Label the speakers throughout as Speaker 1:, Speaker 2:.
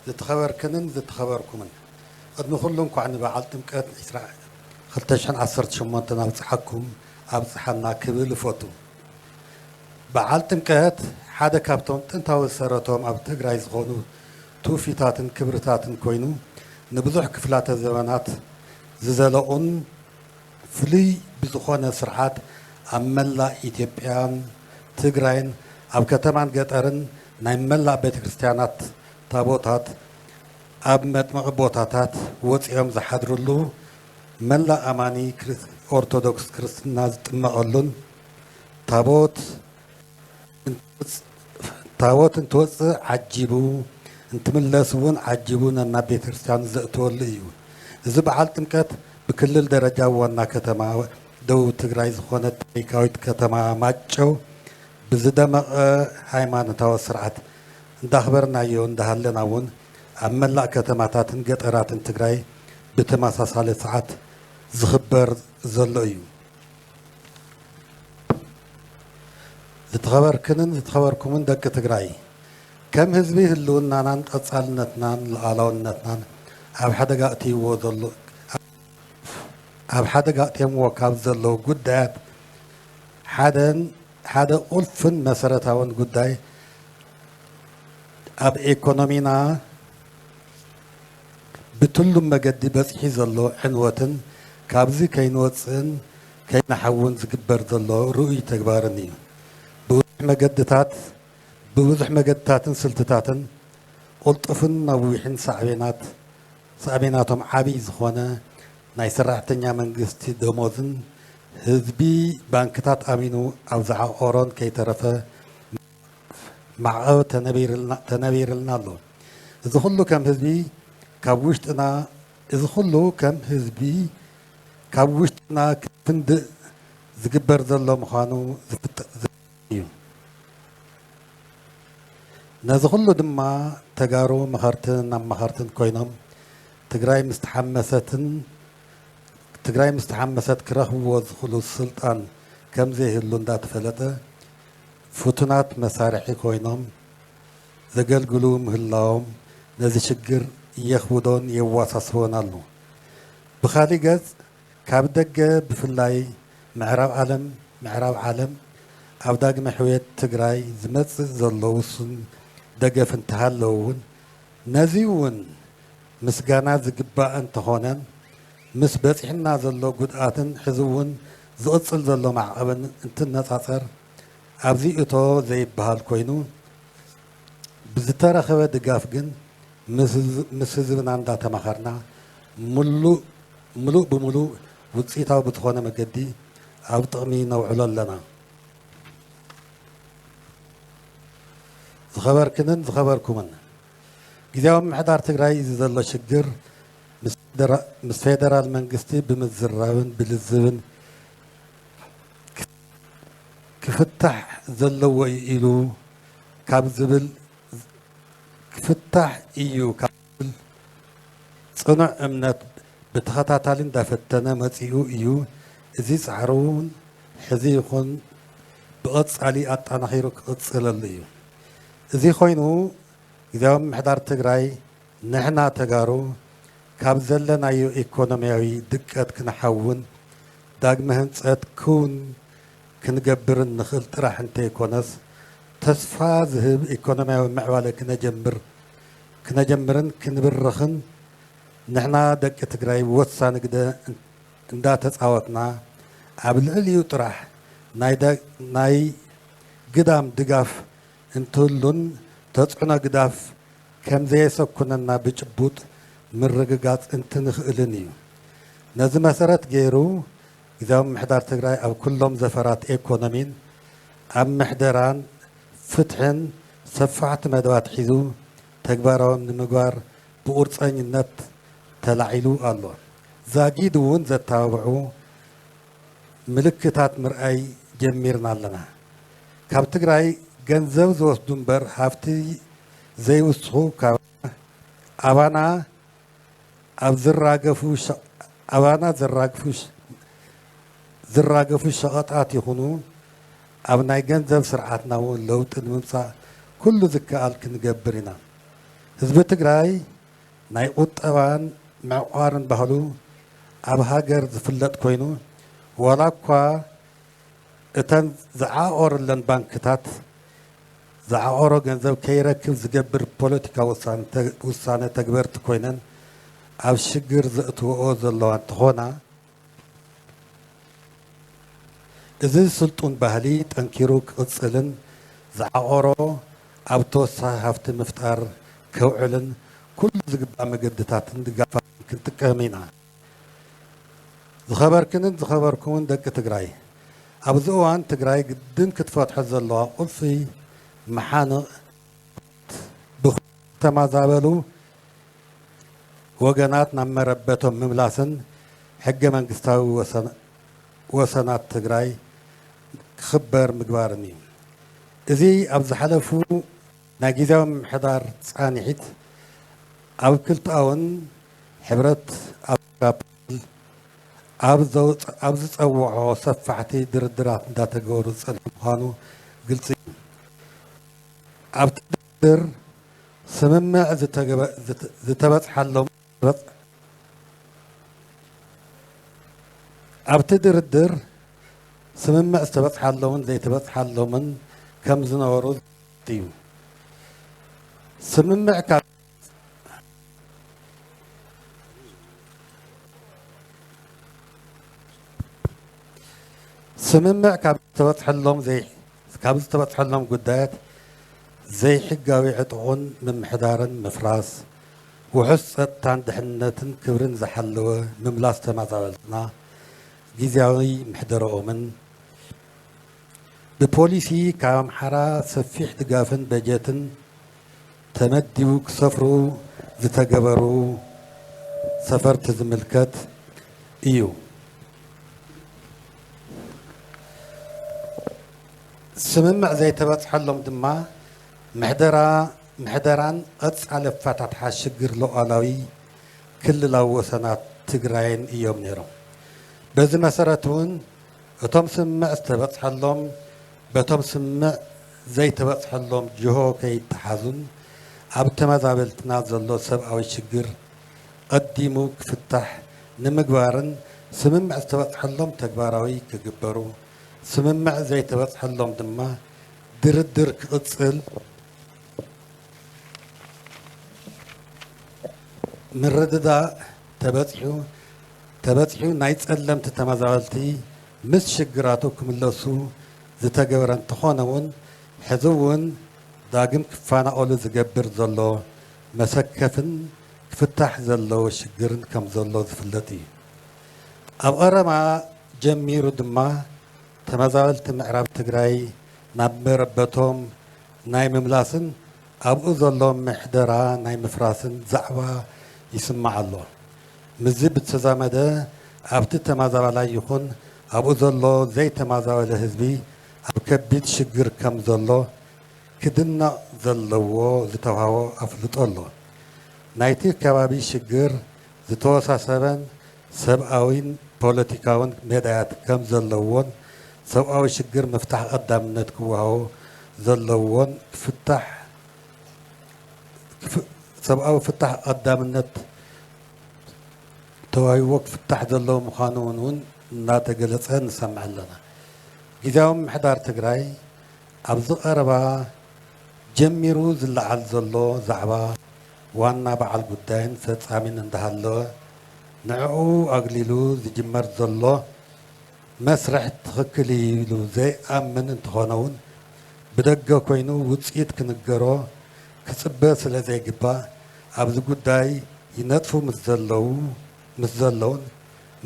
Speaker 1: ዝትኸበርክንን ዝትኸበርኩምን ቕድሚ ኩሉ እንኳዕ ንበዓል ጥምቀት ዕስራ ክልተ ሽሕን ዓሰርተ ሸሞንተን ኣብፀሓኩም ኣብፀሓና ክብል እፎቱ። በዓል ጥምቀት ሓደ ካብቶም ጥንታዊ ዝሰረቶም ኣብ ትግራይ ዝኾኑ ትውፊታትን ክብርታትን ኮይኑ ንብዙሕ ክፍላተ ዘበናት ዝዘለቑን ፍሉይ ብዝኾነ ስርዓት ኣብ መላእ ኢትዮጵያን ትግራይን ኣብ ከተማን ገጠርን ናይ መላእ ቤተ ክርስቲያናት ታቦታት ኣብ መጥምቒ ቦታታት ወጺኦም ዝሓድርሉ፣ መላእ ኣማኒ ኦርቶዶክስ ክርስትና ዝጥመቐሉን፣ ታቦት ታቦት እንትወጽእ ዓጂቡ እንትምለስ እውን ዓጂቡ ነናብ ቤተ ክርስቲያኑ ዘእትወሉ እዩ። እዚ በዓል ጥምቀት ብክልል ደረጃ ዋና ከተማ ደቡብ ትግራይ ዝኾነት ታሪካዊት ከተማ ማጨው ብዝደመቐ ሃይማኖታዊ ስርዓት እንዳኽበርናዮ እንዳሃለና እውን ኣብ መላእ ከተማታትን ገጠራትን ትግራይ ብተመሳሳሊ ሰዓት ዝኽበር ዘሎ እዩ። ዝተኸበርክንን ዝተኸበርኩምን ደቂ ትግራይ፣ ከም ህዝቢ ህልውናናን ቐፃልነትናን ሉኣላውነትናን ኣብ ሓደጋ ኣእትይዎ ዘሎ ኣብ ሓደጋ ኣእትዮምዎ ካብ ዘለዉ ጉዳያት ሓደን ሓደ ቁልፍን መሰረታውን ጉዳይ ኣብ ኤኮኖሚና ብትሉም መገዲ በጺሒ ዘሎ ዕንወትን ካብዚ ከይንወጽእን ከይንሓውን ዝግበር ዘሎ ርኡይ ተግባርን እዩ። ብብዙሕ መገድታት ብብዙሕ መገድታትን ስልትታትን ቁልጡፍን ነዊሕን ሳዕቤናት ሳዕቤናቶም ዓብይ ዝኾነ ናይ ሰራሕተኛ መንግስቲ ደሞዝን ህዝቢ ባንክታት ኣሚኑ ኣብ ዝዓቖሮን ከይተረፈ ማዕቐብ ተነቢርልና ኣሎ። እዚ ኹሉ ከም ህዝቢ ካብ ውሽጥና እዚ ኹሉ ከም ህዝቢ ካብ ውሽጥና ክንፍንድእ ዝግበር ዘሎ ምዃኑ ዝፍጠር እዩ። ነዚ ኩሉ ድማ ተጋሩ መኸርትን ኣማኸርትን ኮይኖም ትግራይ ምስ ተሓመሰትን ትግራይ ምስ ተሓመሰት ክረኽብዎ ዝኽእሉ ስልጣን ከምዘይህሉ እንዳተፈለጠ ፍቱናት መሳርሒ ኮይኖም ዘገልግሉ ምህላዎም ነዚ ሽግር የኽብዶን የዋሳስቦን ኣሎ። ብኻሊእ ገፅ ካብ ደገ ብፍላይ ምዕራብ ዓለም ምዕራብ ዓለም ኣብ ዳግመ ሕውየት ትግራይ ዝመፅእ ዘሎ ውሱን ደገፍ እንተሃለወ እውን ነዚ እውን ምስጋና ዝግባእ እንተኾነ ምስ በፂሑና ዘሎ ጉድኣትን ሕዚ እውን ዝቕፅል ዘሎ ማዕቐብን እንትነፃፀር ኣብዚ እቶ ዘይበሃል ኮይኑ ብዝተረኸበ ድጋፍ ግን ምስ ህዝብና እንዳተማኸርና ሙሉእ ምሉእ ብምሉእ ውፅኢታዊ ብዝኾነ መገዲ ኣብ ጥቕሚ ነውዕሎ ኣለና። ዝኸበርክንን ዝኸበርኩምን፣ ጊዜያዊ ምምሕዳር ትግራይ እዚ ዘሎ ሽግር ምስ ፌደራል መንግስቲ ብምዝራብን ብልዝብን ክፍታሕ ዘለዎ እዩ ኢሉ ካብ ዝብል ክፍታሕ እዩ ካብ ጽኑዕ እምነት ብተኸታታሊ እንዳፈተነ መጺኡ እዩ። እዚ ጻዕሩ እውን ሕዚ ይኹን ብቐጻሊ ኣጠናኺሩ ክቕጽለሉ እዩ። እዚ ኮይኑ ግዝያዊ ምምሕዳር ትግራይ ንሕና ተጋሩ ካብ ዘለናዮ ኢኮኖሚያዊ ድቀት ክንሓውን ዳግመ ህንጸት ክውን ክንገብርን ንኽእል ጥራሕ እንተይኮነስ ተስፋ ዝህብ ኢኮኖሚያዊ ምዕባለ ክነጀምር ክነጀምርን ክንብርኽን ንሕና ደቂ ትግራይ ወሳኒ ግደ እንዳተፃወትና ኣብ ልዕሊኡ ጥራሕ ናይ ግዳም ድጋፍ እንትህሉን ተፅዕኖ ግዳፍ ከምዘየሰኩነና ብጭቡጥ ምርግጋፅ እንትንኽእልን እዩ። ነዚ መሰረት ገይሩ ግዝያዊ ምምሕዳር ትግራይ ኣብ ኩሎም ዘፈራት ኤኮኖሚን ኣብ ምሕደራን ፍትሕን ሰፋሕቲ መደባት ሒዙ ተግባራዊ ንምግባር ብቑርፀኝነት ተላዒሉ ኣሎ። ዛጊድ እውን ዘተባብዑ ምልክታት ምርኣይ ጀሚርና ኣለና። ካብ ትግራይ ገንዘብ ዝወስዱ እምበር ሃፍቲ ዘይውስኹ ካብ ኣባና ኣብ ዝራገፉ ኣባና ዝራግፉ ዝራገፉ ሸቐጣት ይኹኑ ኣብ ናይ ገንዘብ ስርዓትና እውን ለውጢ ንምምፃእ ኩሉ ዝከኣል ክንገብር ኢና። ህዝቢ ትግራይ ናይ ቁጠባን ምዕቋርን ባህሉ ኣብ ሃገር ዝፍለጥ ኮይኑ ዋላ እኳ እተን ዝዓቖረለን ባንክታት ዝዓቖሮ ገንዘብ ከይረክብ ዝገብር ፖለቲካዊ ውሳነ ተግበርቲ ኮይነን ኣብ ሽግር ዘእትወኦ ዘለዋ እንትኾና፣ እዚ ስልጡን ባህሊ ጠንኪሩ ክቕፅልን ዝዓቖሮ ኣብ ተወሳኺ ሃፍቲ ምፍጣር ከውዕልን ኩሉ ዝግባእ መገዲታትን ድጋፋትን ክንጥቀም ኢና። ዝኸበርክንን ዝኸበርኩምን ደቂ ትግራይ፣ ኣብዚ እዋን ትግራይ ግድን ክትፈትሖ ዘለዋ ቁልፊ መሓንቕ ብዝተማዛበሉ ወገናት ናብ መረበቶም ምምላስን ሕገ መንግስታዊ ወሰናት ትግራይ ክኽበር ምግባርን እዩ። እዚ ኣብ ዝሓለፉ ናይ ጊዜያዊ ምምሕዳር ፃንሒት ኣብ ክልተኣውን ሕብረት ኣፍሪካ ፕሮቶኮል ኣብ ዝፀወዖ ሰፋሕቲ ድርድራት እንዳተገበሩ ዝፀንሐ ምዃኑ ግልፂ እዩ። ኣብቲ ድርድር ስምምዕ ዝተበፅሓሎምን ዘይተበፅሓሎምን ከምዝነበሩ ዝፍለጥ እዩ። ስምምዕ ካብ ስምምዕ ካብ ዝተበፅሐሎም ካብ ዝተበፅሐሎም ጉዳያት ዘይሕጋዊ ዕጥቑን ምምሕዳርን ምፍራስ ውሑስ ፀጥታን ድሕንነትን ክብርን ዝሓለወ ምምላስ ተመዛበልትና ጊዜያዊ ምሕደረኦምን ብፖሊሲ ካብ ኣምሓራ ሰፊሕ ድጋፍን በጀትን ተመዲቡ ክሰፍሩ ዝተገበሩ ሰፈርቲ ዝምልከት እዩ። ስምምዕ ዘይተበፅሐሎም ድማ ምሕደራ ምሕደራን ቐፃሊ ኣፈታትሓ ሽግር ሉኣላዊ ክልላዊ ወሰናት ትግራይን እዮም ነይሮም። በዚ መሰረት እውን እቶም ስምምዕ ዝተበፅሐሎም በቶም ስምምዕ ዘይተበፅሐሎም ጅሆ ከይተሓዙን ኣብ ተመዛበልትና ዘሎ ሰብኣዊ ሽግር ቐዲሙ ክፍታሕ ንምግባርን ስምምዕ ዝተበፅሐሎም ተግባራዊ ክግበሩ ስምምዕ ዘይተበፅሐሎም ድማ ድርድር ክቕፅል ምርድዳእ ተበጺሑ ተበጺሑ ናይ ጸለምቲ ተመዛበልቲ ምስ ሽግራቱ ክምለሱ ዝተገበረ እንተኾነውን ሕዚውን ዳግም ክፋናቀሉ ዝገብር ዘሎ መሰከፍን ክፍታሕ ዘለዎ ሽግርን ከምዘሎ ዝፍለጥ እዩ። ኣብ ቐረባ ጀሚሩ ድማ ተመዛበልቲ ምዕራብ ትግራይ ናብ መረበቶም ናይ ምምላስን፣ ኣብኡ ዘሎ ምሕደራ ናይ ምፍራስን ዛዕባ ይስማዕ ኣሎ። ምስዚ ብዝተዛመደ ኣብቲ ተማዛባላይ ይኹን ኣብኡ ዘሎ ዘይተማዛበለ ህዝቢ ኣብ ከቢድ ሽግር ከም ዘሎ ክድነቕ ዘለዎ ዝተውሃቦ ኣፍልጦ ኣሎ። ናይቲ ከባቢ ሽግር ዝተወሳሰበን ሰብኣዊን ፖለቲካውን መዳያት ከም ዘለዎን ሰብኣዊ ሽግር ምፍታሕ ቐዳምነት ክወሃቦ ዘለዎን ክፍታሕ ሰብኣዊ ፍታሕ ቐዳምነት ተዋሂብዎ ክፍታሕ ዘለዎ ምዃኑ ውን ውን እናተገለፀ ንሰምዕ ኣለና። ጊዜያዊ ምምሕዳር ትግራይ ኣብዚ ቐረባ ጀሚሩ ዝለዓል ዘሎ ዛዕባ፣ ዋና በዓል ጉዳይን ፈፃሚን እንዳሃለወ ንዕዑ ኣግሊሉ ዝጅመር ዘሎ መስርሕ ትኽክል እዩ ኢሉ ዘይኣምን እንተኾነ ውን ብደገ ኮይኑ ውፅኢት ክንገሮ ክፅበ ስለዘይግባእ ኣብዚ ጉዳይ ይነጥፉ ምስ ዘለው ምስ ዘለውን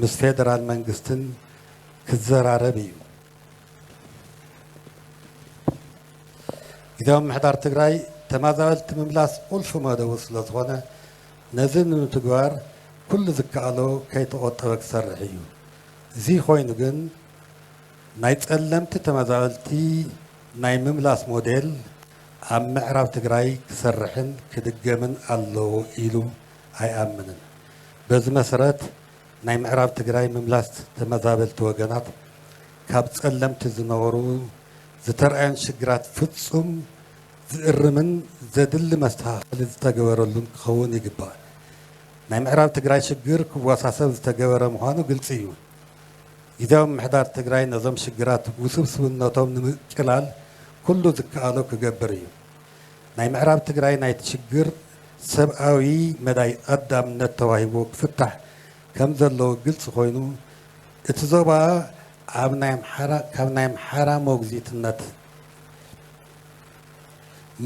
Speaker 1: ምስ ፌደራል መንግስትን ክዘራረብ እዩ። ግዜያዊ ምምሕዳር ትግራይ ተመዛበልቲ ምምላስ ቁልፊ መደቡ ስለዝኾነ ነዚ ንምትግባር ኩሉ ዝከኣሎ ከይተቖጠበ ክሰርሕ እዩ። እዚ ኮይኑ ግን ናይ ጸለምቲ ተመዛበልቲ ናይ ምምላስ ሞዴል ኣብ ምዕራብ ትግራይ ክሰርሕን ክድገምን ኣለዎ ኢሉ ኣይኣምንን። በዚ መሰረት ናይ ምዕራብ ትግራይ ምምላስ ተመዛበልቲ ወገናት ካብ ፀለምቲ ዝነበሩ ዝተርኣዮን ሽግራት ፍፁም ዝእርምን ዘድሊ መስተኻኸሊ ዝተገበረሉን ክኸውን ይግባእ። ናይ ምዕራብ ትግራይ ሽግር ክወሳሰብ ዝተገበረ ምዃኑ ግልፂ እዩ። ጊዚያዊ ምምሕዳር ትግራይ ነዞም ሽግራት ውስብስብነቶም ንምቅላል ኩሉ ዝከኣሎ ክገብር እዩ። ናይ ምዕራብ ትግራይ ናይቲ ሽግር ሰብኣዊ መዳይ ቐዳምነት ተዋሂብዎ ክፍታሕ ከምዘለዎ ግልፂ ኮይኑ እቲ ዞባ ኣብ ናይ ኣምሓራ ካብ ናይ ኣምሓራ ሞግዚትነት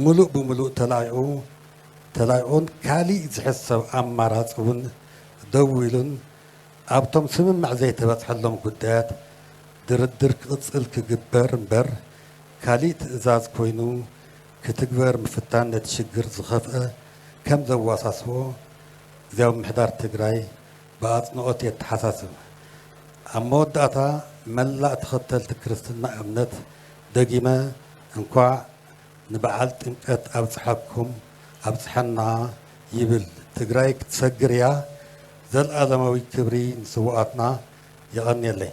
Speaker 1: ሙሉእ ብሙሉእ ተላቒቑ ተላቒቑን ካሊእ ዝሕሰብ ኣማራፂ እውን ደው ኢሉን ኣብቶም ስምምዕ ዘይተበፅሐሎም ጉዳያት ድርድር ክቕፅል ክግበር እምበር ካሊእ ትእዛዝ ኮይኑ ክትግበር ምፍታን ነቲ ሽግር ዝኸፍኣ ከም ዘዋሳስቦ ግዝያዊ ምምሕዳር ትግራይ ብኣፅንኦት የተሓሳስብ። ኣብ መወዳእታ መላእ ተኸተልቲ ክርስትና እምነት ደጊመ እንኳዕ ንበዓል ጥምቀት ኣብፀሐኩም ኣብፀሐና ይብል። ትግራይ ክትሰግር እያ! ዘልኣለማዊ ክብሪ ንስውኣትና! የቐንየለይ!